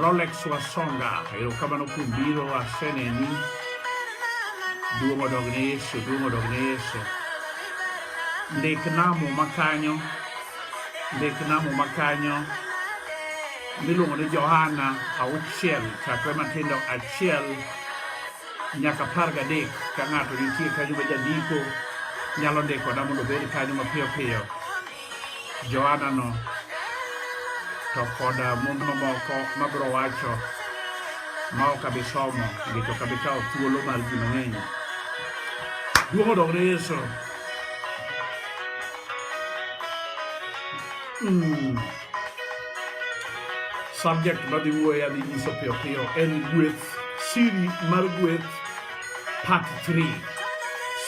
Rolex Wasonga, erokamano kuom biro aseneni. Duong' odog ne Yesu, duong' odog ne Yesu. Ndik namo makanyo, ndik namo makanyo miluongo ni Johana auchiel chakre matindo achiel nyaka apar gadek ka ng'ato nitie kanyo ma jandiko nyalo ndikona mondo obed kanyo mapiyo piyo Johana no to kod uh, mumbe mamoko mabiro wacho ma ok abi somo nikech ok abi kawo thuolo mar ji mang'eny. Duong' odog ne Yesu. Mm. Subject madhi wuoye adhi nyiso piyo piyo en gweth, siri mar gweth part 3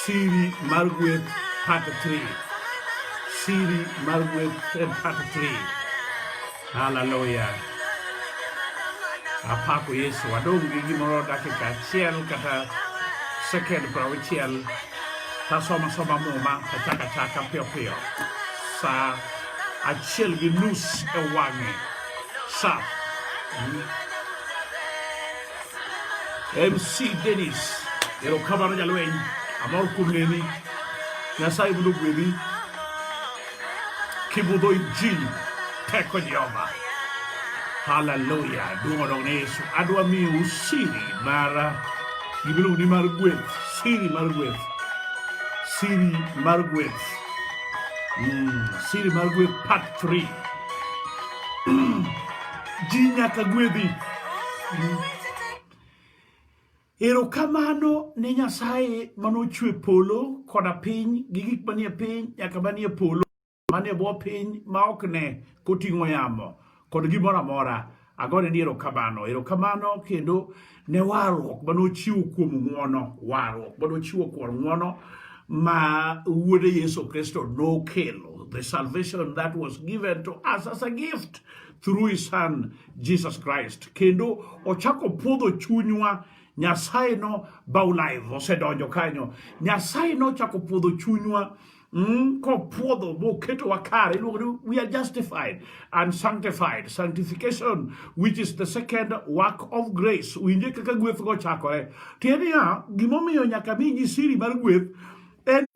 siri mar gweth part 3 siri mar gweth en part 3 haleluya apako yesu adong' gi gimoro dakika achiel kata sekend piero auchiel tasoma soma muma tachaka chaka piyo piyo sa achiel gi nus e wang'e sa MC Dennis erokamano jalweny amor kuom neni Nyasaye mondo ogwedhi kibudho injili teko Jehova haleluya duong' odog ne Yesu adwa miyo siri mar gimiluongo ni mar gweth siri mar gweth siri mar gweth mm, siri mar gweth part 3 Ji nyaka gwedhi. Erokamano ne Nyasaye manochwe polo koda piny gi gik manie piny nyaka manie polo manie bwo piny ma ok ne koting'o yamo kod gimoro amora. Agone ni erokamano, erokamano kendo ne warruok ma nochiwo kuom ng'wono warruok ma nochiwo kuom ng'wono ma wuode Yesu Kristo nokelo the salvation that was given to us as a gift through his son Jesus Christ kendo ochako puodho chunywa Nyasaye no baulive osedonjo kanyo Nyasaye nochako puodho chunywa Mm, kopwodho moketowa kare iluongo ni we are justified and sanctified sanctification which is the second work of grace winje kaka gweth go chakore tiende ya gimomiyo nyaka mi ji siri mar gweth en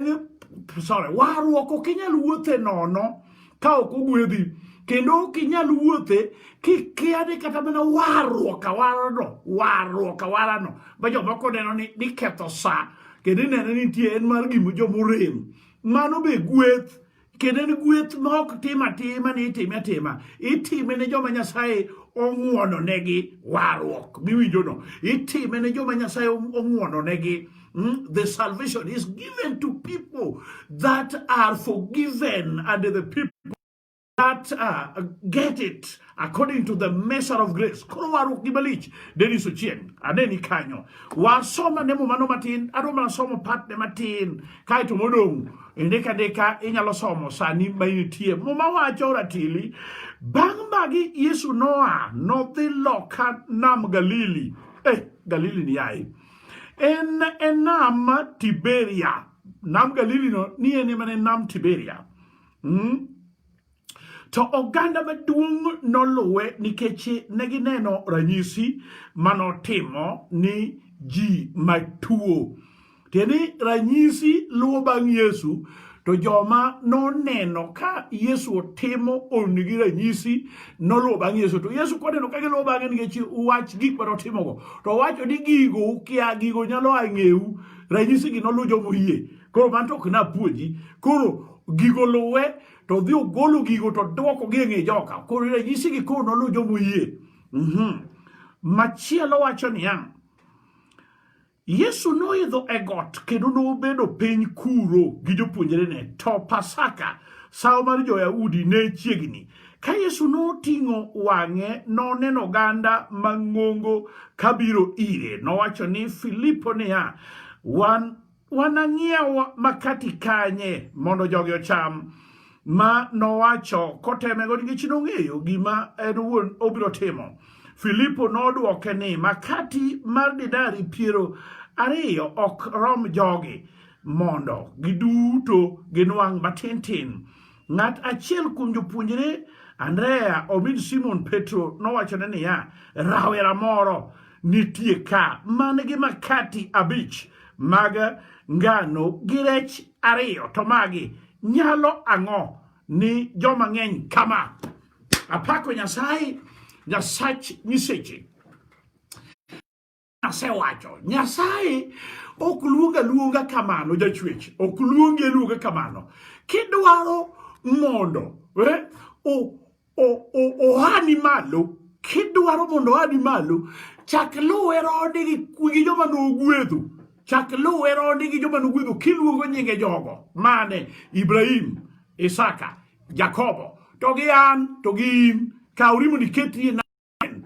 sorry warruok ok inyal wuothe nono ka ok ogwedhi kendo ok inyal wuothe kikia ni kata mana warruok awarano warruok awarano ma jomoko neno ni niketho sa kendo ineno ni nitie en mar gima jomorem mano be gweth kendo en gweth ma ok tim atima ni itime atima itime ne joma nyasaye ong'wononegi warruok miwinjono itime ne joma nyasaye ong'wononegi Mm, the salvation is given to people that are forgiven and the people that uh, get it according to the measure of grace koro warruok gi malich deniso chieng aneni kanyo wasoma nemo mano matin adoma nasomo patne matin kaeto modong' indika ndika inyalo somo sani ma initie muma wacho ratili bang' magi yesu noa nodhi loka nam galili eh, galili ni yaye En e nam Tiberia. Nam Galili no ni en ema ne nam Tiberia. Mm? To oganda maduong' noluwe nikech ne gineno ranyisi manotimo ni ji matuo. Tiende ranyisi luwo bang' Yesu To joma noneno ka Yesu otimo onni gi ranyisi noluwo bang' Yesu. To Yesu koneno ka giluwo bang'e nikech wach gik ma notimogo. To owacho ni gigo ukia, gigo nyalo a ng'eu. Ranyisigi noluw joma oyie. Koro man to ok napuonji. Koro gigo luwe to dhi ogolo gigo to dwoko gi e ng'e joka. Koro ranyisigi koro noluw joma oyie. Mhm. Machielo wacho niya, Yesu noidho e got kendo nobedo piny kuro gi jopuonjrene, to Pasaka, sawo mar jo-Yahudi ne chiegni. Ka Yesu noting'o wang'e, noneno oganda mang'ongo kabiro ire. Nowacho ni Filipo niya, wan wanang'iew makati kanye mondo jogi ocham? ma nowacho kotemego nikech nong'eyo gima en owuon obiro timo. Filipo nodwoke ni makati mar dinari piero ariyo ok rom jogi mondo giduto ginwang' matin tin. Ng'at achiel kuom jopuonjre Andrea omin Simon Petro nowachone niya, rawera moro nitie ka man gi makati abich mag ngano gi rech ariyo to magi nyalo ang'o ni joma ng'eny kama apako nyasaye nyasach nyiseche asewacho nyasaye ok luonga luonga kamano jachwech ok luongi luonga kamano kidwaro mondo eh, ohani malo kidwaro mondo ohani malo chak luwe rode gi joma nogwedho chak luwe rode gi joma nogwedho kiluongo nyinge jogo mane ibrahim isaka jakobo to gi an to gi in kaw rimo niketi mang'eny.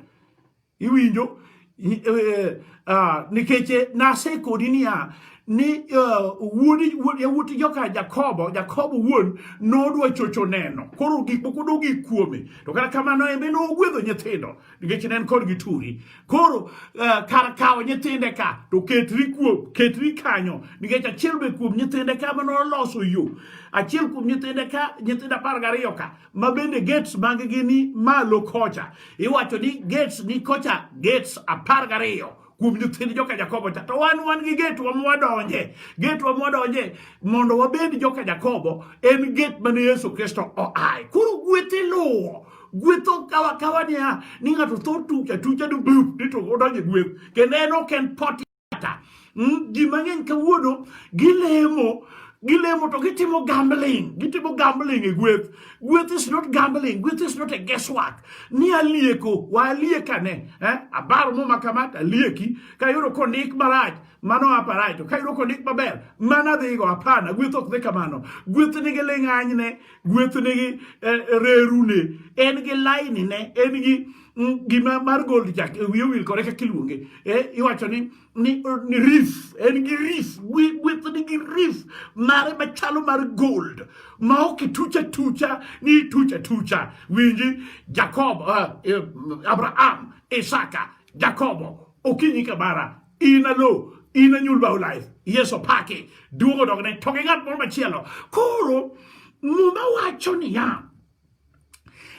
Iwinjo? Eh, ah, nikech eh, nasekodi niya ni eh, wuod yawuot joka Jakobo Jakobo wuon nodwa chocho neno koro gik moko dogi kuome to kata kamano embe nogwedho nyithindo nikech ne en kod gi turi koro kar kawo nyithinde ka to ketri kuom ketri kanyo nikech achiel be kuom nyithinde ka mano loso yo achiel kuom nyithinde ka nyithindo apar gariyo ka ma bende gates mag-gi ni malo kocha. Iwacho ni gates ni kocha, gates apar gariyo kuom nyithind joka Jakobo cha. To wan wan gi gate wa mwadonje, gate wa mwadonje mondo wabed joka Jakobo en gate mane Yesu Kristo oaye. Koro gweth iluwo gwetho kawa kawa niya ni ng'ato tho tucha tucha ni bup ni to odonje gweth kendo en ok en pot kata hmm, ji mang'eny kawuono gilemo gilemo to gitimo gambling gitimo gambling e gweth gweth is not gambling gweth is not a guesswork ni alieko wa aliekane eh? abaro muma kama to alieki kayudo kondik marach mano aparach to kayudo kondik maber mano adhigo hapana gweth ok dhi kamano gweth nigi ling'anyne gweth nigi eh, rerune en gi lainine en gi mm, gima mar gold jack e wiye wil kore kaka iluonge eh, iwacho ni ni, ni rif en gi rif gweth ni gi rif mare machalo mar gold ma ok itucha tucha ni itucha tucha winji jakobo uh, eh, abraham isaka jakobo okinyi kabara inalo inanyul bao life yeso pake duogo dogne to gi ng'at moro machielo koro muma wacho niya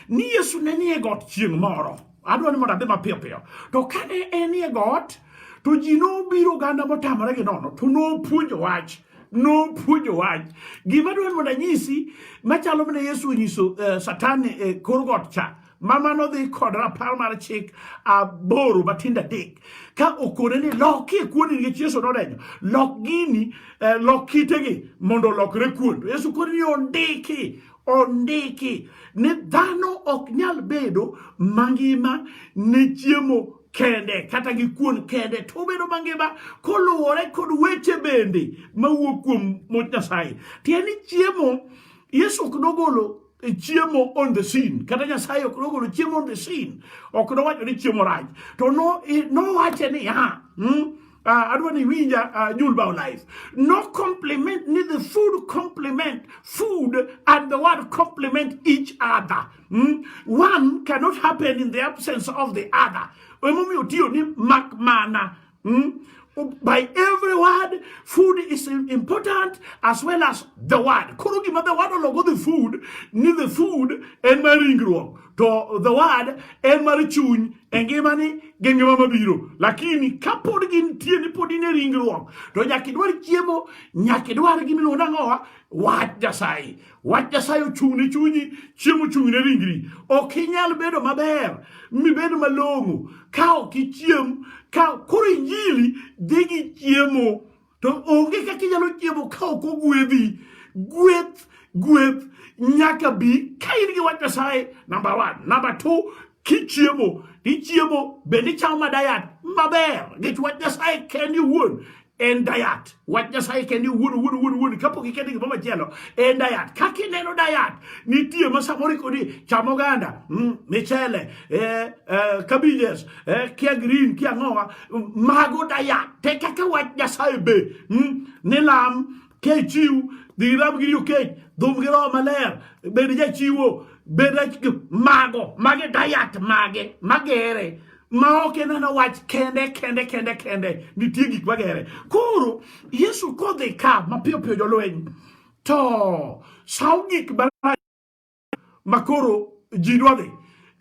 ni Yesu ne nie got chieng' moro. Adwa ni mondo adhi mapiyo piyo. To kane en e got, to ji nobiro oganda motamore gi nono, to nopuonjo wach. Nopuonjo wach. Gima dwa ni mondo anyisi, machalo mana Yesu onyiso uh, Satan e eh, kor got cha. Mama nodhi kod rapar mar chik aboro matindo adek ka okone ni lokie kuon nikech Yesu nodenyo lok gini eh, lok kitegi mondo olokre kuon Yesu kone ni ondiki Ondiki ni dhano ok nyal bedo mangima ne chiemo kende kata gi kuon kende to obedo mangima koluwore kod weche bende mawuok kuom much Nyasaye. Tiende ni chiemo Yesu ok nogolo e chiemo on the scene kata Nyasaye ok nogolo chiemo on the scene ok nowacho ni chiemo rach to nowache niya hmm? uh, adwa ni winja uh, ah, julbao life no complement ni the food complement food and the word complement each other mm? one cannot happen in the absence of the other emomiyo tiyo ni makmana mm? by every word food is important as well as the word koro gima the word ologo the food ni the food en mar ringruok to the word en mar chuny e ngimani gi ngima mabiro lakini kapod gintie ni pod in e ringruok to nyaka idwar chiemo nyaka idwar gimiluongo nang'owa wach nyasaye wach nyasaye ochung' ne chunyi chiemo ochung' ne ringri ok inyal bedo maber mibed malong'o ka ok ichiem ka koro injili dhi gi chiemo to onge kaka inyalo chiemo ka ok ogwedhi gweth gweth nyaka bi ka in gi wach nyasaye namba one namba two kichiemo ichiemo bende ichamo ma dayat maber nikech wach nyasaye kendi wuon en dayat wach nyasaye kende wuon wuon wuon wuon kapok ikete gimoro machielo en dayat kaka ineno dayat nitie ma samoro ikoni chamo oganda mm, michele eh, eh, cabbages eh, kia green kia ng'owa mago daya te kaka wach nyasaye be mm, ni lam kechiw dhi ram giri okech dhum gi roho maler bed jachiwo bed mago mage dayat mage magere ma ok ineno wach kende kende kende kende nitie gik magere koro yesu kodhi ka mapiyo piyo jolweny to saw gik makoro ji dwa dhi.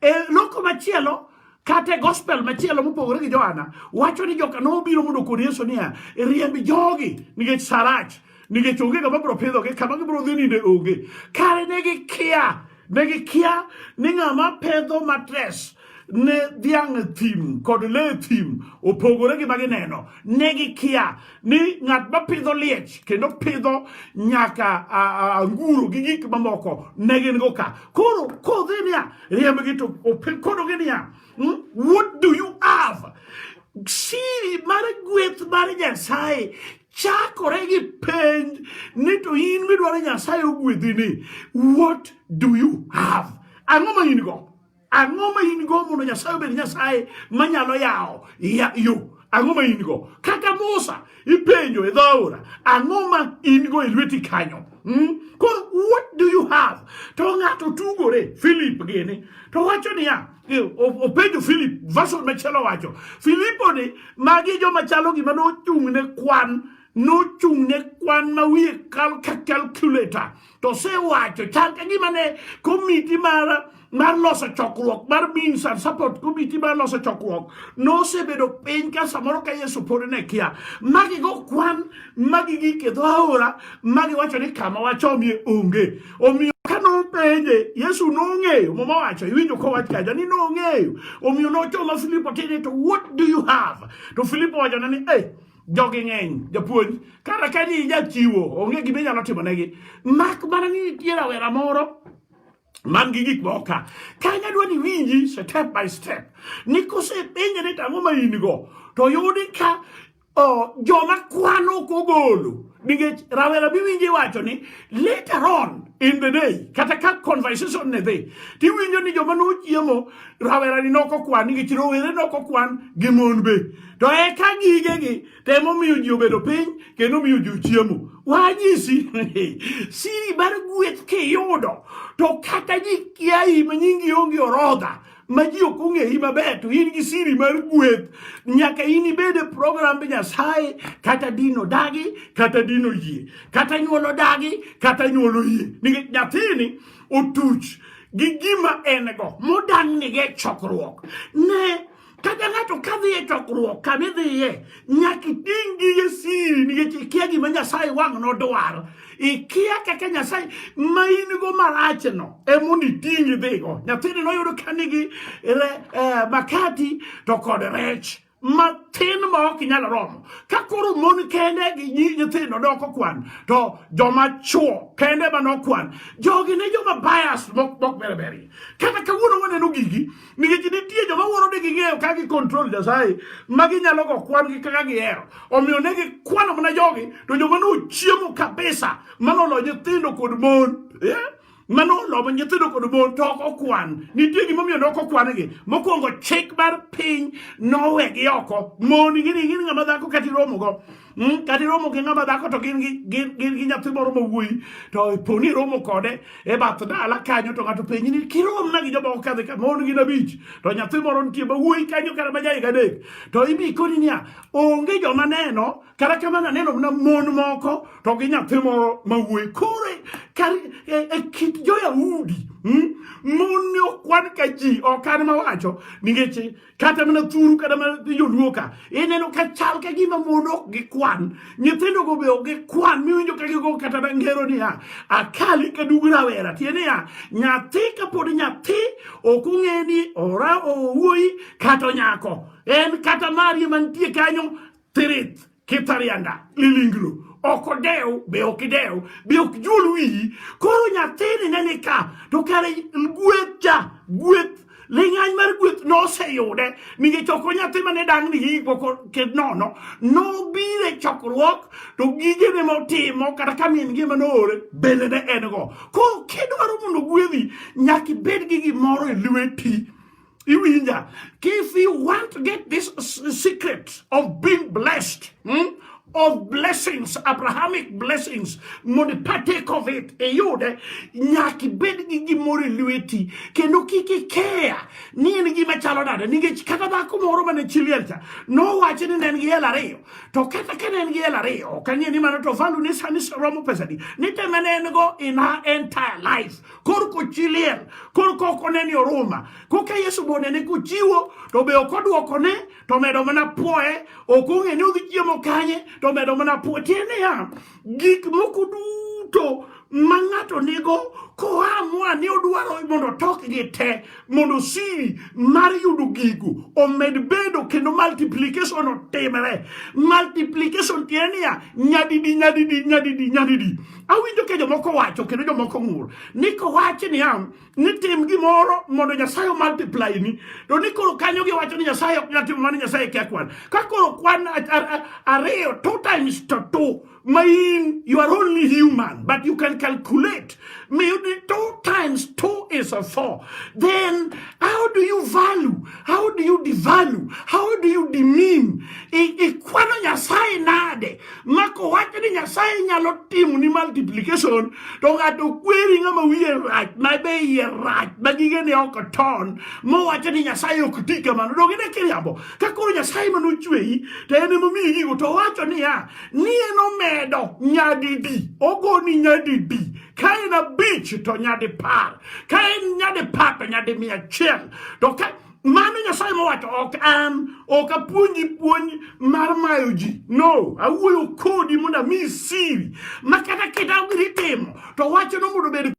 E loko machielo kata e gospel machielo mopogore gi Johana wacho ni joka nobiro mondo kod Yesu niya, riemb jogi nikech sarach nikech onge kama biro pidhogi kama gibiro dhi ninde onge. Kare ne gikia ne gikia ni ng'ama pedho matres ne dhiang' e thim kod le e thim opogore gi ma gineno ne gikia ni ng'at ma pidho liech kendo pidho nyaka anguro gi gik mamoko ne gin go ka koro kodhi niya riembgi to kodogi niya hmm, what do you have siri mar gweth mar nyasaye chakore gi penj ni to in midwaro nyasaye ogwedhi ni what do you have ang'o ma in go Ang'o ma in go mondo Nyasaye obed Nyasaye manyalo yawo yo? Ang'o ma in go? Kaka Musa ipenjo e dho aora, ang'o ma in go e lweti kanyo? Hmm? Koro what do you have? To ng'ato tugore Philip gini to wacho niya openjo Philip version machielo wacho Filipo ni magi joma chalo gima nochung' ne kwan nochung' ne kwan ma wiye kal ka calculator to sewacho chal ka gima ne komiti mar mar loso chokruok mar means and support committee mar loso chokruok nosebedo piny ka samoro ka yesu pod ne kia magi go kwan magi gike dho aora magi wacho ni kama wachomie onge omiyo ka nopenje yesu nong'eyo muma wacho iwinjo kowach kaja ni nong'eyo omiyo nochoma filipo tine to what do you have to filipo wachone ni hey, jogi ng'eny japuonj kata ka ni jachiwo onge gima inyalo timo negi mak mana ni nitie rawera moro man gi gik moko ka kane adwa ni winji step by step ni kosepenje ni tang'o ma in go to yudi ka oh, joma kwano ok ogolo nikech rawera miwinji wacho ni later on in the day kata ka conversation ne dhi tiwinjo ni joma nochiemo rawera ni nokokwan nikech rowere nokokwan gi mon be to eka gigegi temo miyo ji obedo piny kendo miyo ji chiemo wanyisi siri mar gweth kiyudo to kata ji kiayi ma nyingi onge orodha ma ji ok ong'eyi maber to in gi siri mar gweth nyaka in ibed e program nyasaye kata dino dagi kata dino yie kata nyuolo dagi kata nyuolo yie nikech nyathini otuch gi gima en go modang' nige chokruok ne Kata ng'ato ka dhi e chokruok kama idhiye, nyaka iting' gige siri nikech ikia gima Nyasaye wang' nodwaro. Ikia kaka Nyasaye ma in go marachno emondo iting' idhigo. Nyathini noyudo ka nigi eh, makati to kod rech matin ma ok inyal romo ka koro mon kende gi nyithindo doko kwan to joma chuo kende ma nokwan jogi ne joma bias mok mok berberi kata kawuono waneno gigi nikech nitie joma wuoro ni ging'eyo ka gi control Nyasaye ma ginyalo go kwan gi kaka gihero omiyo ne gikwano mana jogi to joma nochiemo kabisa manolo nyithindo kod mon eh? manolo ma nyithindo kod mon to ok okwan nitie gimomiyo ne ok okwangi mokwongo chik mar piny nowegi oko mon ing'ini ing'ini ng'ama dhako kati romogo Hmm? kata iromo gi ng'ama dhako to gin gi nyathi moro ma wuoyi to po ni iromo kode e bath dala kanyo to ng'ato penji ni kiromna gi jomoko kadhi ka mon gin abich to nyathi moro nitie ma wuoyi kanyo kata ma jahiga adek to ibi koni niya onge joma neno kata kamano aneno mana mon moko to gi nyathi moro ma wuoyi koro e, e kit jo-yahudi hmm? mon ne okwan ka ji ok an mawacho nikech kata mana thuru kata mana joluo ka ineno ka chal ka gima mon ok gikwan nyithindogo be ok gikwan miwinjo ka gigo kata ngero niya akali ka dug rawera tie niya nyathi kapod nyathi ok ong'e ni ora owuoyi kata nyako en kata marie mantie kanyo Thirith kitarianda lilinglo ok odew be ok idew be ok juol wiyi koro nyathini ne ni ka to kare gweth cha gweth ling'any mar gweth noseyude nikech ok onyathi mane dang' ni gik moko ked nono nobire chokruok to gige ne motimo kata ka min gi mane oore bende ne en go koro kidwaro mondo gwedhi nyaka ibed gi gimoro e lweti Iwinja, if you want to get this secret of being blessed, hmm? of blessings, Abrahamic blessings, mondo partake of it, iyude nyaka ibed gi gimoro e lweti kendo kik ikeya ni en gima chalo nade nikech kata dhako moro mane chi liel cha nowacho ni ne en gi hel ariyo to kata ka ne en gi hel ariyo ok ang'e ni mano to value ne sani romo pesadi ni te mane en go in her entire life kor kochi liel kor kok oneni oruma koka yesu be onene kochiwo to be ok odwokone to medo mana pwoye ok ong'e ni odhi chiemo kanye to medo mana pwoye tiende niya gik moko duto ma ng'ato nigo koa moa ni odwaro mondo otokgi te mondo siri mar yudo gigo omed bedo kendo multiplication otimre multiplication tiende niya nyadidi nyadidi nyadidi nyadidi Awinjo ka jomoko wacho kendo jomoko ng'ur ni kowachi niya ni tim gimoro mondo Nyasaye omultiply ni to ni koro kanyo giwacho ni Nyasaye ok nyal timo mano Nyasaye kia kwan ka koro kwan ariyo two times to two ma in you are only human but you can calculate maybe two times two is a four then how do you value how do you devalue how do you demean ikwano Nyasaye nade mako wach ni nyasaye nyalo timo ni multiplication to ng'ato kweri ng'ama wiye rach ma be iye rach ma gige ne ok ton mowacho ni nyasaye ok ti kamano dog ine kiriambo ka koro nyasaye ma nochweyi to en emomiyi gigo to wacho niya ni en omedo nyadidi ogoni nyadidi ka en abich to nyadi par ka en nyadi par to nyadi mia achiel to ka mano nyasaye mowacho ok an ok apuonji puonj mar mayo ji no awuoyo kodi mondo ami siri ma kata keta ogiri timo to wachno mondo obed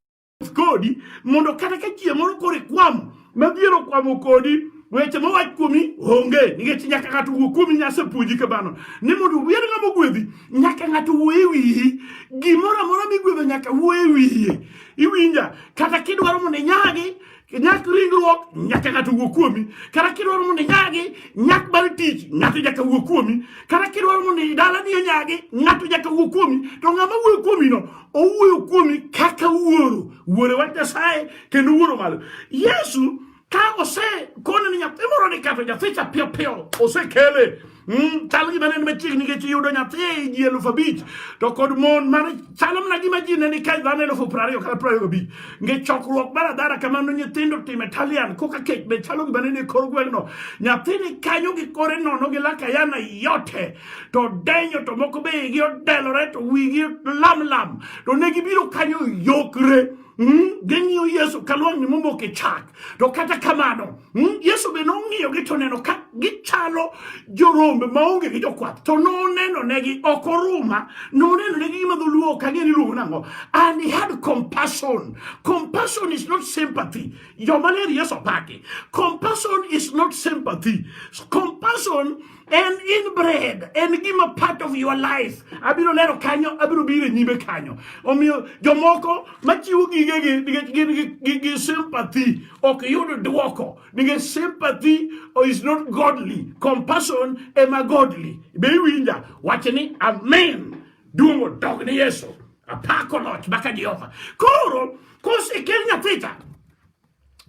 kodi mondo kata ka chieng' moro koro ikwamo madhiero okwamo kodi weche mowach kuomi onge nikech nyaka ng'ato wuo kuomi nyasepuonji kamano ni mondo wier ng'ama ogwedhi nyaka ng'ato wuo e wiyi gimoro amora migwedho nyaka wuo e wiye iwinja kata kidwaro mondo inyagi ñàkk ringruok ñàkk ng'ato wuo kuomi kata kidwaro mondo inyagi nyak mar tich ng'ato nyaka wuo kuomi kata kidwaro mondo dalani onyagi ng'ato nyaka wuo kuomi to ng'ama wuoyo kuomino owuoyo kuomi kaka wuoro wuore wach nyasaye kendo wuoro malo yesu ka osekone ni nyathi moro ni kato nyathi cha piyo piyo osekele Mm, chal gima ne machiegni nikech iyudo nyathi e ji elufu abich to kod mon mane chalo mana gima ji ne ni kae dhano elufu piero ariyo kata piero ariyo gabich nikech chokruok mar adhara kamano nyithindo tim Italian koka kech be chalo gima ne ni kor gweng'no nyathi ni kanyo gi kore nono gi laka yana yote to denyo to moko be igi odelore to wigi lam lam to ne gibiro kanyo yokre Mm, ging'iyo Yesu ka lwang'ni momoko e chak. To kata kamano, mm, Yesu be nong'iyogi to neno ka gichalo jorombe maonge gi jokwath. To noneno negi ok oruma, noneno negi gima dholuo ok ang'e ni luongo nang'o. And he had compassion. Compassion is not sympathy. Joma ler Yesu opaki. Compassion is not sympathy. Compassion en inbred en gima part of your life abiro lero kanyo abiro biro e nyime kanyo omiyo jomoko machiwo gigegi nikech gin gi- gi sympathy ok yud dwoko nikech sympathy is not godly compassion ema godly be iwinja wach ni amen duong' odog ni yesu apako loch maka jehova koro kosekel nyathicha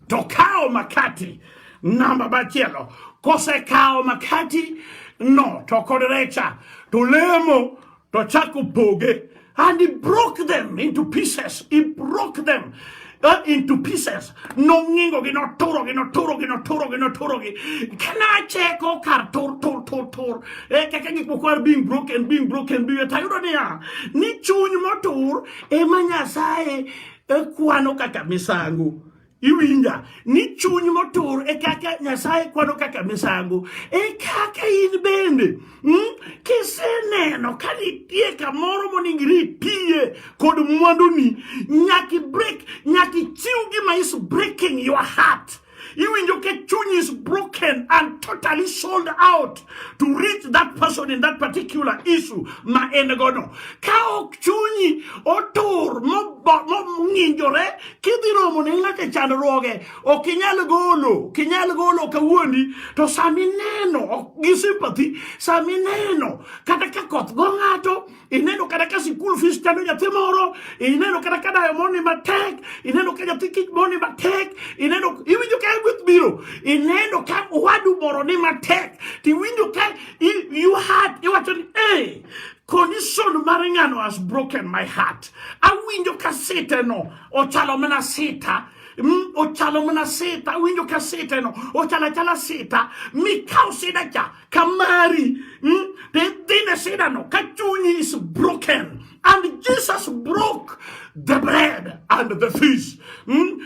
To kawo makati namba machielo, kosekawo makati no to kod recha to lemo to chako poge and he broke them into pieces he broke them uh, into pieces nong'ingogi noturogi noturogi noturogi noturogi kanacheko kar tur tur tur tur e kaka gik moko are being broken being broken being tayudo niya ni chuny motur ema nyasaye e kwano kaka misango iwinja ni chuny motur e kaka nyasaye kwano kaka misango e kaka in bende mm? kiseneno ka nitie kamoro moningre itiye kod mwanduni nyaki break nyaki chiw gima is breaking your heart Iwinjo ke chuny is broken and totally sold out to reach that person in that particular issue ma en gono. Ka ok chunyi otur mong'injore kidhi romo ne ng'ato chandruoge ok inyal golo ok inyal golo kawuondi to sami neno gi sympathy sami neno kata ka koth go ng'ato ineno kata ka sikul fees chando nyathi moro ineno kata ka dayo moni matek ineno ka nyathi kich moni matek ineno iwinjo ka gweth biro ineno ka wadu moro ni matek tiwinjo ka you heart iwacho ni eh condition mar ng'ano has broken my heart awinjo ka site no ochalo mana sita mm, ochalo mana sita awinjo ka site no ochalo achala sita mikaw sida cha kamari mm, they think they say that no kachuni is broken and jesus broke the bread and the fish mm?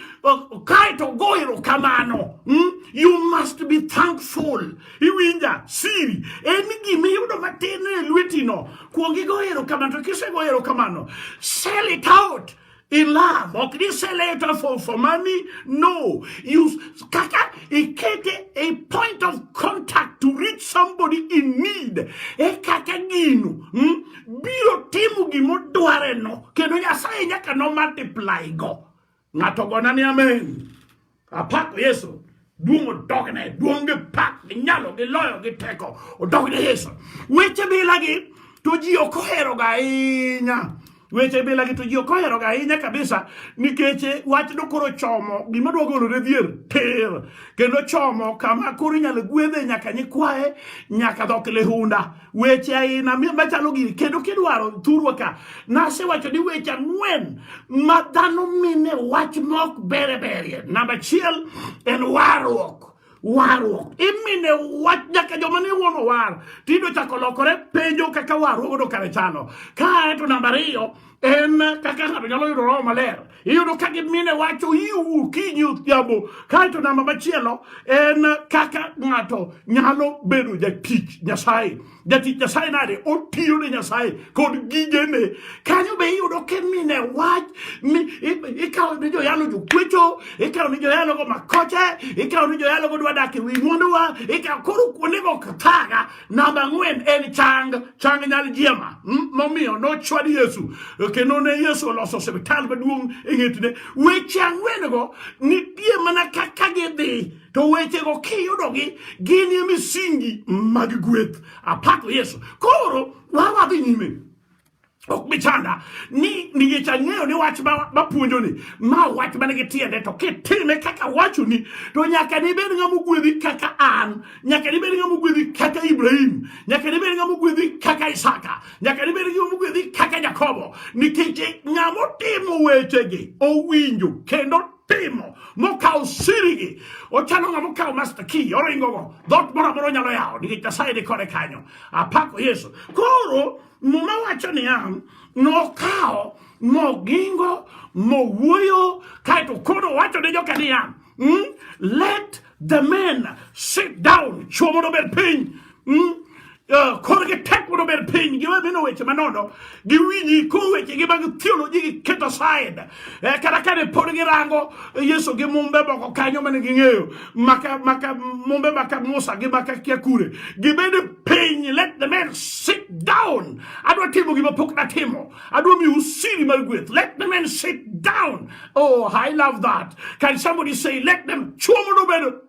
kaito goero kamano mm? you must be thankful iwinja siri en gima iyudo matin e lwetino kuongi goero kamano to kisegoero kamano sell it out In love, ok ni sell it for, for money. No, you kaka ikete a point of contact to reach somebody in need. E kaka gino hmm? biro timo gimodwareno kendo Nyasaye nyaka no multiply go. Ng'ato gona ni amen. Apako Yesu. Duong' odogne, duong' gi pak, gi nyalo, gi loyo, gi teko. Odogne Yesu. Weche bilagi to ji ok oheroga ahinya. Weche bilagi to ji ok oheroga ahinya kabisa nikech wach no koro chomo gima dwa golore dhier tir kendo chomo kama koro inyalo gwedhe nyaka nyikwaye nyaka dhok lihunda. weche aina machalo gini kendo kidwaro thurwa ka nasewacho ni weche ang'wen ma dhano mine wach mok bere berie namba achiel en warruok warruok imine wach nyaka joma ne wuon owar tido chako lokore penjo kaka warruok odo kare chano kae to namba ariyo en kaka ng'ato nyalo yudo roho maler iyudo ka gimine wacho iwu kinyi odhiambo kaeto namba machielo en kaka ng'ato nyalo bedo jatich nyasaye jatich nyasaye nade otiyo ne nyasaye kod gigene kanyo be iyudo kimine wach ni ikawo ni joyalo jokwecho ikawo ni joyalogo makoche ikawo ni joyalogo dwa dak e wi mwanduwa ikawo koro kuondego kathaga Namba ang'wen en chang, chang nyal jiema. Hmm? Momiyo nochwad Yesu kendo ne Yesu oloso osiptal maduong' e ng'etne. Weche ang'wen go nitie mana kaka gidhi to wechego kiyudogi gin e misingi mag gweth. Apako Yesu. Koro wawadhi nyime. ok bi chanda ni nikech ang'eyo ni wach mapuonjoni ma wach man gi tiende to kitime kaka wachoni to nyaka nibed ng'ama ogwedhi kaka an nyaka nibed ng'ama ogwedhi kaka ibrahim nyaka nibed ng'ama ogwedhi kaka isaka nyaka nibed ng'ama ogwedhi kaka jakobo nikech ng'ama otimo wechegi owinjo kendo timo mokawo sirigi ochalo ng'ama okawo master key oringogo dhot moro amora onyalo yawo nikech nyasaye ni kode kanyo apako yesu koro Muma wacho niya, nokawo mogingo mowuoyo, kaeto koro owacho ne joka niya, mm, let the men sit down, chwo mondo obed piny mm, Uh, korgi tek mondo obed piny giwe mino weche manono giwinji ko wechegi mag theology giketo side e kata kane pod girango yesu gi mumbe moko kanyo mane ging'eyo maka maka mumbe maka musa gi maka kia kure gibede piny let the man sit down adwa timo gima pok natimo adwa miu siri mar gweth let the man sit down oh i love that can somebody say let them chuomo nobedo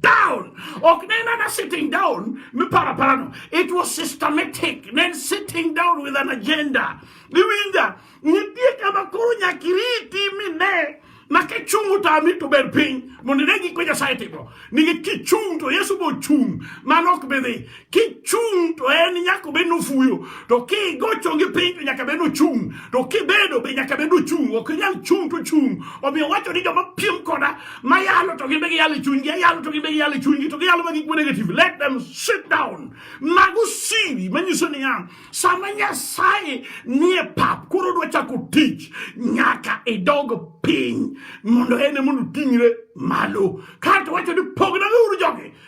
down ok ne en ana sitting down miparo parano it was systematic ne en sitting down with an agenda iwinja nitie kama koro nyaka iriti mine ma kichung' otami to ber piny mondo ine gik ma nyasaye timo nikech kichung' to yesu bochung' mano ok bidhi kichung' to en nyaka obed nofuyo to kigocho gi piny to nyaka bed nochung' to kibedo be nyaka bed nochung' ok inyal chung' to chung' omiyo wacho ni joma piem koda ma yalo to gin be giyalo e chunygi ayalo to gin be giyalo e chunygi to giyalo ma gik ma negative let them sit down mago siri manyiso niya sama nyasaye nie pap koro odwa chako tich nyaka idog piny mondo en e mondo oting're malo kato wacho ni pognauru jogi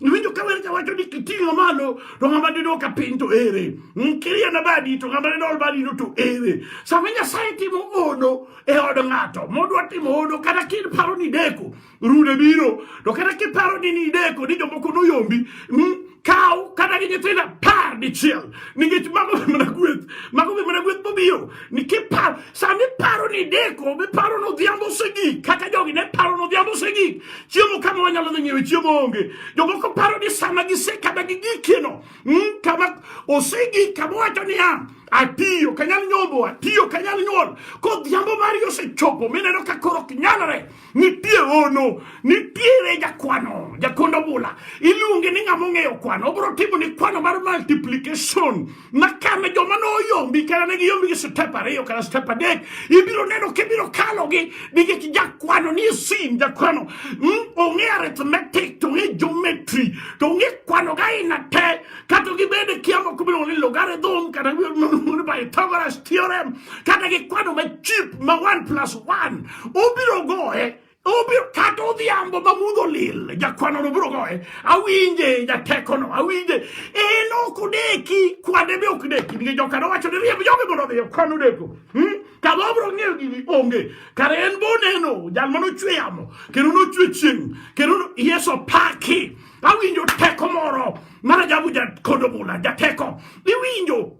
Niwinjo ka wer kawacho ni kiting'o malo to ng'ama dido ka piny to ere. Nkiria na badi to ng'ama dido badi no to ere. Sama Nyasaye timo hono e od ng'ato, modwa timo hono kata kin paro ni deko, rude biro. To kata kin paro ni ni deko ni jomoko noyombi, mm, kaw kata gi nyithindo apar dichiel nikech mago be mana gweth mago be mana gweth mobiro Nikiparo, sama iparo ni ideko, miparo ni odhiambo osegik, kaka jogi ne paro ni odhiambo osegik, chiemo kama wanyalo dhi ng'iewe chiemo onge. Jomoko paro ni sama gise kama gigikieno, mm, kama osegik, kama wacho niya, atiyo kanyal nyombo, atiyo kanyal nyuol, kodhiambo mari osechopo, mineno ka koro ok nyalre. Nitie ono, nitiere jakwano, jakondo bula. Iluonge ni ng'ama ong'eyo kwano. Obro timo ni kwano mar multiplication. Makane joma no oyombi kata ne giyombi gi step ariyo kata step adek. Ibiro neno kibiro kalo gi nikech jakwano ni sin jakwano. Mm, ong'e arithmetic, to ong'e geometry, to ong'e kwano ga ina te. Kata gibede kia moko biro ni logarithm kata ni Pythagoras theorem. Kata gi kwano ma cheap ma 1 plus 1. Obiro goye obiro kata odhiambo ma mudho lil jakwanono biro goye awinje jatekono awinje en ok odeki kwande be ok deki nikech jokano wacho ni riemb jogi mondo odhi kwan odeko hmm? kama obiro ng'eyo gini onge kare en be oneno jal mane ochwe yamo kendo nochwe chieng' kendo yesu opaki awinjo teko moro mar ajabu jakodo bula jateko iwinjo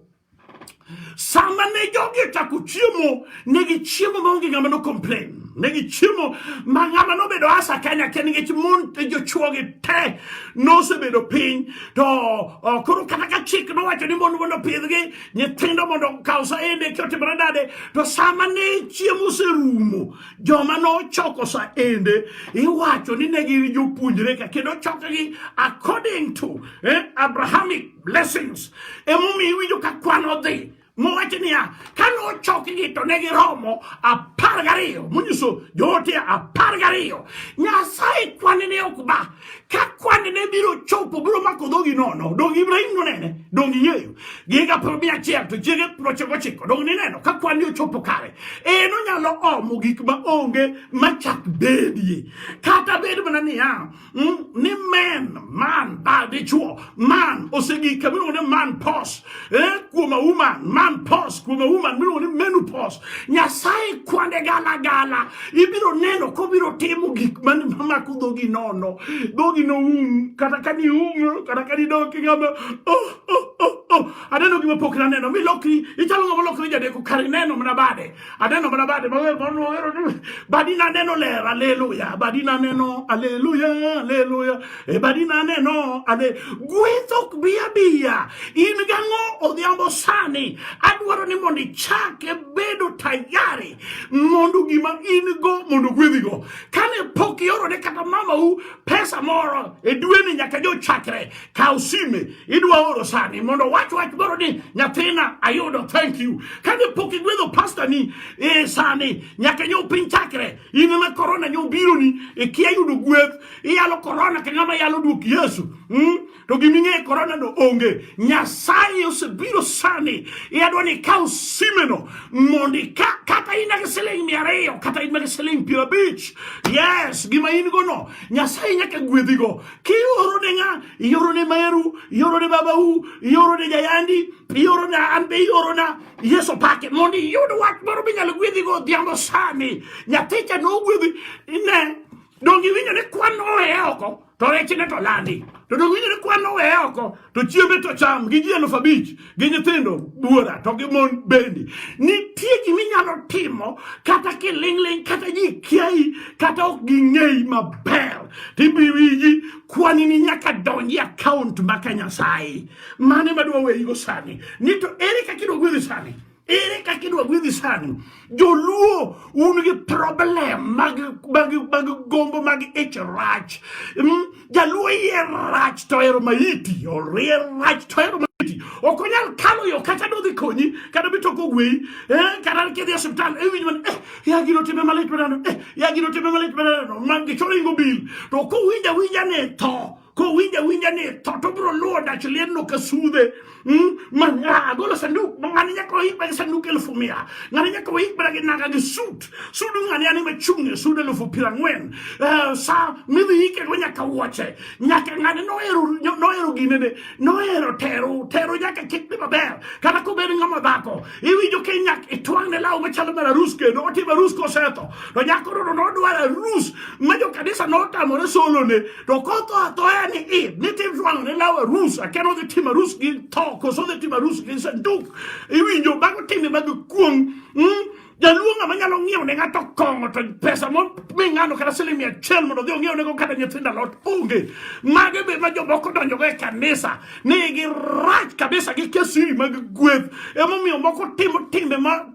sama ne jogi ochako chiemo ne gichiemo maonge ng'ama no complain ne gichiemo ma ng'ama nobedo asa kanya ke nikech mon e jochuogi te nosebedo piny to uh, koro kata ka chik nowacho ni mon mondo opidhgi nyithindo mondo kaw saende ki otimore dade to sama ne chiemo oserumo joma nochoko saende iwacho ni ne gin jopuonjre ka kendo chokgi according to eh, abrahamic blessings emomiyo iwinjo ka kwan odhi mowacho niya ka nochokgi to ne giromo apar gariyo monyiso joote apar gariyo nyasaye kwane ne ok ba ka kwane ne biro chopo biro mako dhogi nono dong ibrahim nonene dong ing'eyo giga piero mia achiel to chiege piero ochiko ochiko dong nineno ka kwan ni ochopo kare en onyalo omo gik ma onge machak bedie kata bed mana niya Mm, ni men man ba dichuo man osegika miluongo ni man pos eh, kuom auman man pos kuom auman miluongo ni menopos nyasaye kwande gala gala ibiro neno kobiro timo gik mamako dhogi nono dhogi noum kata ka ni um kata ka ni doki ngama oh, oh, oh, oh. aneno gima pok naneno milokri ichalo ngama lokri jadeko kar ineno mana bade Aneno mana bade mawer moro wero ni badi naneno ler haleluya badi naneno haleluya haleluya e badi naneno ale gweth ok bi abiya in gang'o odhiambo sani adwaro ni mondo ichak e bedo tayari mondo gima in go mondo gwedhigo kane pok iorone kata mamau pesa moro e dweni nyaka jo chakre kaw sime idwa oro sani mondo wach wach moro ni nyathina ayudo thank you kane pok igwedho pasta ni e sani nyaka nyo piny chakre in ma corona nyo biro ni ikia e yudo gweth iyalo corona ka ng'ama yalo duok yesu mm? to giming'e korona no onge nyasaye osebiro sani yadwa ni ikaw simeno mondo kata in gi siling mia ariyo kata in gi siling piero abich yes gima in go no nyasaye nyaka gwedhigo kioro ne ng'a ioro ne meru ioro ne babau ioro ne jayandi ioro na an be ioro na yesu pake mondo iyud wach moro minyalo gwedhigo odhiambo sani nyathicha nogwedhi ne Donge iwinjo ni kwan oweye oko to rechne to landi. To donge iwinjo ni kwan oweye oko to chiembe to cham gi ji eluf abich gi nyithindo buora to gi mon bende. Nitie gima inyalo timo kata kiling'ling' kata ji kiayi kata ok ging'eyi maber tibiwiji kwani ni nyaka donji akaont maka Nyasaye. Mane madwa weyigo sani ni to ere kaka idwa gwedhi sani? Ere kaka idwa gwedhi sani? Joluo un gi problem mag mag mag gombo mag ich rach. Mm, Jaluo iye rach to ero maiti, orie rach to ero maiti. Ok onyal kalo yo kata dodhi konyi kata bi toko gweyi. Eh, kata kidhi e osiptal e winj man eh ya gino time malit manano eh ya gino time malit manano man gi choringo bil. To ko winja winja ne tho. kowinjo awinja ni tho to biro luwo dach liendno ka sudhe hmm? ma ng'a golo sanduk ng'ani nyaka oikba gi sanduk elufu mia ng'ani nyaka oikbra gi nanga gi sut sudu ng'ani ani machung'e sud elufu piero ang'wen eh, sa midhi ikego nyaka wuoche nyaka ng'ani nohero nohero ginene nohero tero tero nyaka kik dhi maber kata kobed ng'ama dhako iwinjo ke nyak itwang'ne law machalo mar arus kendo otimo arus kosetho to nyako rodo nodwar arus ma jokanisa notamore solone To kotho athoya ni i ni tim jwang ni lawe rus akeno dhi tima rus gi to koso dhi tima rus gi sanduk iwinjo bago timi bago kuong mm? jaluonga ma nyalo ng'iewo ne ng'ato kong'o to pesa mo mi ng'ano kata siling mia achiel mondo odhi ong'iew nego kata nyithindo alot onge mage be ma jomoko donjogo e kanisa ni girach kabisa gi kesiri mag gweth emomiyo moko timo timbe ma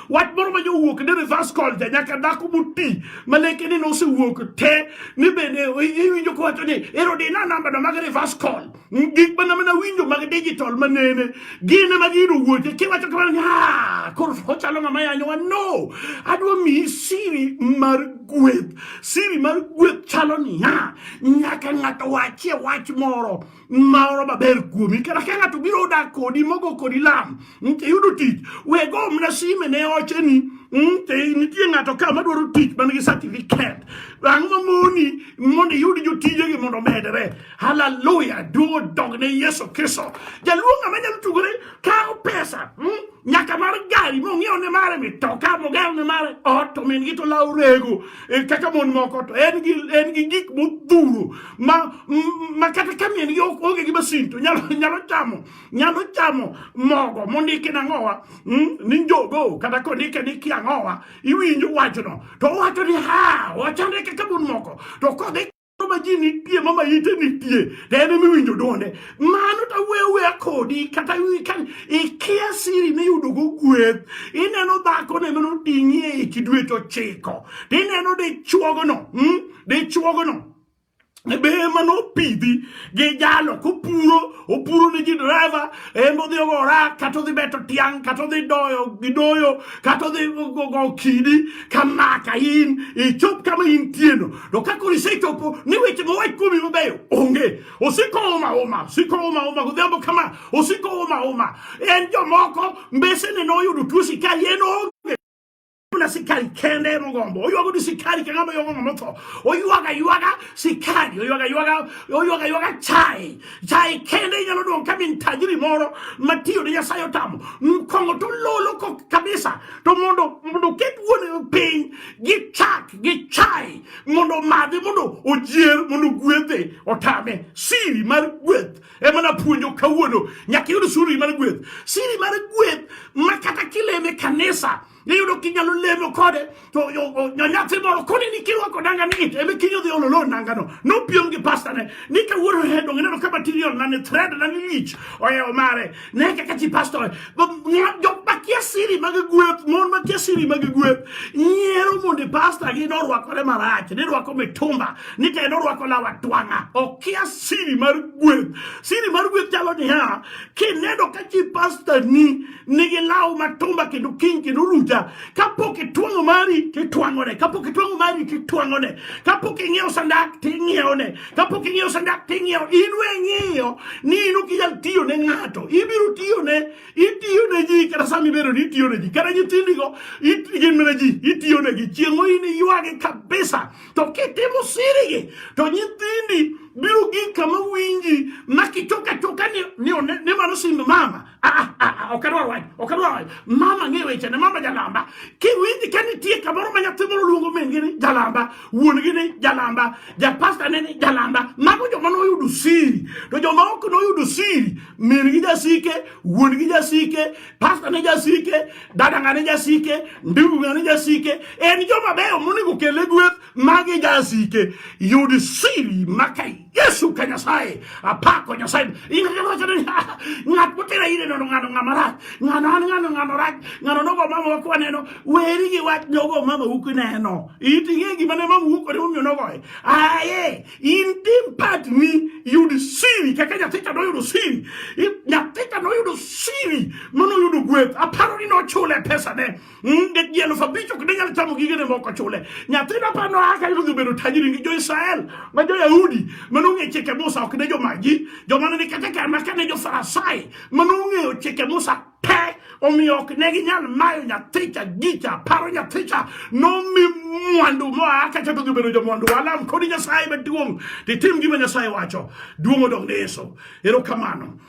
wach moro ma jowuok ni reverse culture nyaka dhako moti ma leke ni nosewuok te ni bende iwinjo kowacho ni ero di na namba no mag reverse call gik mana mana winjo mag digital manene gine ma gino wuoche kiwacho kamano ni ah koro ochalo ng'ama yanyowa no adwa miyi siri mar gweth siri mar gweth chalo niya nyaka ng'ato wachie wach moro maoro maber kuomi kata ka ng'ato biro dak kodi mogo kodi lam mm, iyudo tich we go mna sime ne ocheni mm, nitie ng'ato ka madwaro tich man gi certificate ang' mamoni mondo iyud jotijegi mondo omedre haleluya duogo dog ne yesu kristo jaluo ng'ama nyalo tugore kawo pesa mm, nyaka mar gari mong'iew ne mare mitoka mogaw ne mare ot to min gi to law rego e, kaka mon moko to en gi en gi gik modhuro ma ma kata ka min gi onge gi masin to nyalo nyalo chamo nyalo chamo mogo mondiki na ngowa hmm, ni njogo kata kondike ni kia ngowa iwinjo wachno to wacho ni ha wachande kaka mon moko to kodhi ma ji nitie ma maite nitie to en ema iwinjo dwonde mano to awuoyo awuoya kodi kata ikia siri miyudogo gweth ineno dhakono ema noting'i e ich dwe to chiko to ineno dichuogono hmm? dichuogono be ema nopidhi gi jalo kopuro opuro ne ji driver ema odhi ogora kata odhi beto tiang' kata odhi doyo gi doyo kata odhi go kidi ka maka in ichop kama intieno To ka koro isechopo ni weche mowach kuomi mabeyo onge, osiko oma oma, osiko oma oma godhiambo kama, osiko oma oma. En jomoko mbesene noyudo tuo sikari, en onge na sikari kende mogombo oywago ni sikari ka ng'ama ywago ng'ama otho oywaga ywaga sikari oywaga ywaga oywaga ywaga chai chai kende inyalo dong' ka min tajiri moro matiyo ne nyasaye otamo kong'o to lolo ko kabisa to mondo mondo oket wuon piny gichak gichai mondo omadhi mondo ojier mondo gwethe otame siri mar gweth ema napuonjo kawuono nyaka iyud siri mar gweth siri mar gweth ma kata kileme kanisa iyudo kinyalo lemo kode to nyathi moro koni ni kirwako nanga ni it ebe kinyo dhi ololo nanga no nopiem gi pastane ni kawuono hedonge neno kama tiriol na ni thred na ni lich ohewo mare Nekk ka ci pastor ba nga jox ba kia siri ma nga guet mon ma kia siri ma nga guet nyero mo de pastor gi no rwa kore marach ne rwa ko mitumba ni te no rwa ko la watwanga o kia siri mar guet siri mar guet chalo ni ha ki ne do ka ci pastor ni ni gi lawo matumba ki du king ki du ruja ka po ki twango mari ki twango ne ka po ki twango mari ki twango ne ka po ki ngeo sandak ti ngeo ne Kapok ing'eyo sanda ting'iewo, in we ing'eyo ni in ok inyal tiyo ne ng'ato. Ibiro tiyo ne, itiyo ne ji kata sama ibedo ni itiyo ne ji. Kata nyithindigo, gin mana ji, itiyo ne gi. Chieng' in iywagi kabisa. To kitimo sirigi, to nyithindi biro gik kama winji ma kichoka choka ni, ni, ni mano simb mama. Ah, ah, ah, ok adwar wach ok adwar wach mama ng'e weche ne mama jalamba kiwinji ka nitie kamoro ma nyathi moro luongo min-gi ni jalamba wuon-gi ni jalamba japasta ne ni jalamba mago joma noyudo siri to joma ok noyudo siri min-gi jasike wuon-gi jasike pasta ne jasike dadanga ne jasike ndugu ne jasike en joma beyo monego kele gweth magi jasike yud siri maka Yesu ka Nyasaye apako Nyasaye ng'at motera ire nono ng'ano ng'ama rach ng'ano an ng'ano ng'ano rach ng'ano nogo mama wa kwaneno weri gi wach nogo mama u kineno iting'e gima ne mama u kwaneno momiyo nogoye aye in tim part ni yud siri kaka nyathi ka noyudo siri nyathi ka noyudo siri mano yudo gweth aparo ni nochule pesa ne Mm, de ji elufu abich ok ne nyal chamo gigene moko chule nyathina pa noa ka nodhi bedo tajiri gi jo-israel ma jo-yahudi ma nong'eyo chike musa ok ne jomagi joma ne ni kata kama ka ne jo-farisai ma nong'eyo chike musa pe omiyo ok ne ginyal mayo nyathicha gicha paro nyathicha nomi mwandu moa kacha to gibedo jomwandu walam kodi nyasaye maduong' titim gima nyasaye wacho duong' odong' ne yesu erokamano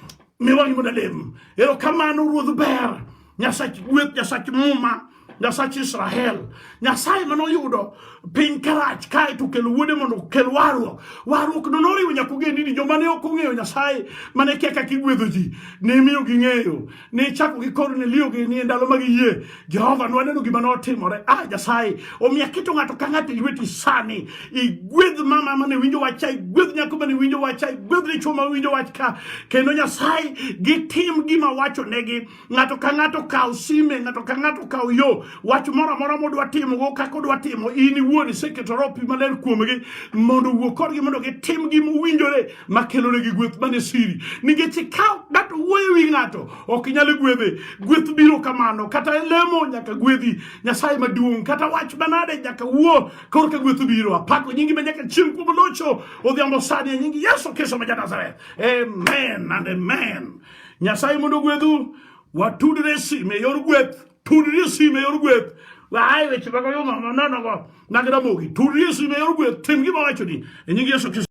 Mi wang'i mondo alem. Erokamano Ruoth ber. Nyasach gweth, Nyasach muma, Nyasach Israel. Nyasaye mane oyudo piny karach kae to kelo wuode mondo okel warruok. Warruok no noriwo nyaka ogendini joma ne ok ong'eyo Nyasaye mane kia kaka igwedho ji. Ne imiyo ging'eyo. Ne ichako gi Kornelio gi ni e ndalo mag yie. Jehova nwaneno gima notimore. Ah, Nyasaye omiyo aketo ng'ato ka ng'ato e lweti sani. Igwedh mama mane winjo wach cha, igwedh nyako mane winjo wach cha, igwedh dichwo ma winjo wach ka. Kendo Nyasaye gitim gima wacho negi. Ng'ato ka ng'ato kaw sime, ng'ato ka ng'ato kaw yo. Wach moro amora modwa timo go kaka odwa timo in iwuon iseketo roho pi maler kuomgi mondo wuo kodgi mondo gitim gima owinjore. ma kelonegi gweth mane siri nikech ikawo ng'ato wuoyo wi ng'ato ok inyal gwedhe gweth biro kamano kata lemo nyaka gwedhi nyasaye maduong' kata wach manade nyaka wuo korka gweth biro apako nyingi ma nyaka chieng' kuom locho odhiambo sani e nyingi yesu kristo ma ja nazareth amen and amen nyasaye mondo gwedhu watudre sime e yor gweth tudri sime e yor gweth waaye weche mago yo nonogo nagiramogi tudri sime e yor gweth tim gima wachoni e nyingi yesu kristo